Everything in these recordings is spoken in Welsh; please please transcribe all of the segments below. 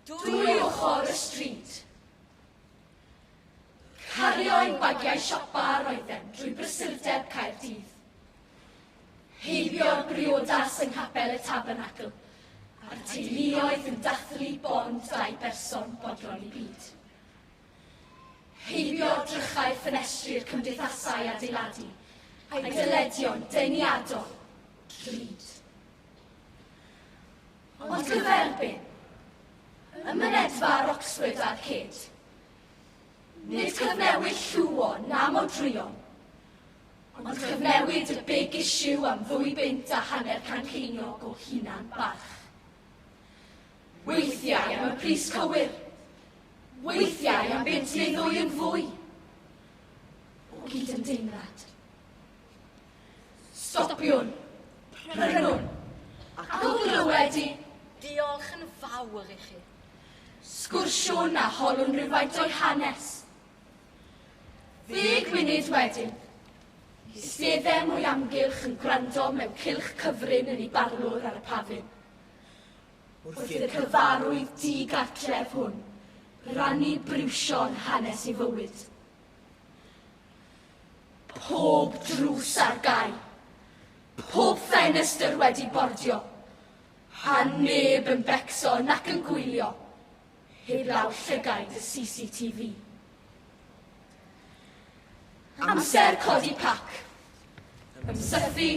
Dwy ochr y stryd. Cario ein bagiau siopa a roedden drwy brysurdeb Caerdydd. Heibio'r briodas yng nghapel y Tabernacl, a'r teuluoedd yn dathlu bond dau berson bodlon i byd. Heibio'r drychau ffenestri'r cymdeithasau adeiladu, a'i dyledion deniadol, drud. Ond cyferbyn, ym mynedfa ar Oxford a'r cyd, nid cyfnewid llwon na modrwyon, ond cyfnewid y big issue am ddwy bunt a hanner can ceiniog o hunan barch. Weithiau am y pris cywir, weithiau am bunt neu ddwy yn fwy o gyd-ymdeimlad. Stopiwn. Prynwn. Ac o glywed i. Diolch yn fawr i chi. Sgwrsiwn a holwn rhywfaint o'i hanes. Ddeg munud wedyn, Eisteddem o'i amgylch yn gwrando mewn cylch cyfrin yn ei barlwr ar y pafin. Wrth i'r cyfarwydd di-gartref hwn rannu briwsion hanes ei fywyd. Pob drws ar gau. Pob ffenestr wedi bordio. A neb yn becso nac yn gwylio, heblaw llygaid y CCTV. Amser codi pac. Ymsythu.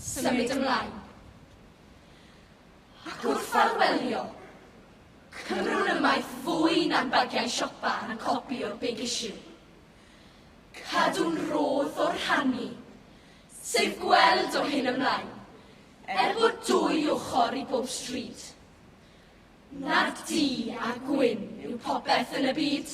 Symud ymlaen. Ac wrth arwelio, Cymru'n ymaith fwy na'n bagiau siopa a'n copi o'r Big Issue. Cadw'n rhodd o rhannu, sef gweld o hyn ymlaen, er bod dwy ochr i bob stryd. Nad du a gwyn yw popeth yn y byd.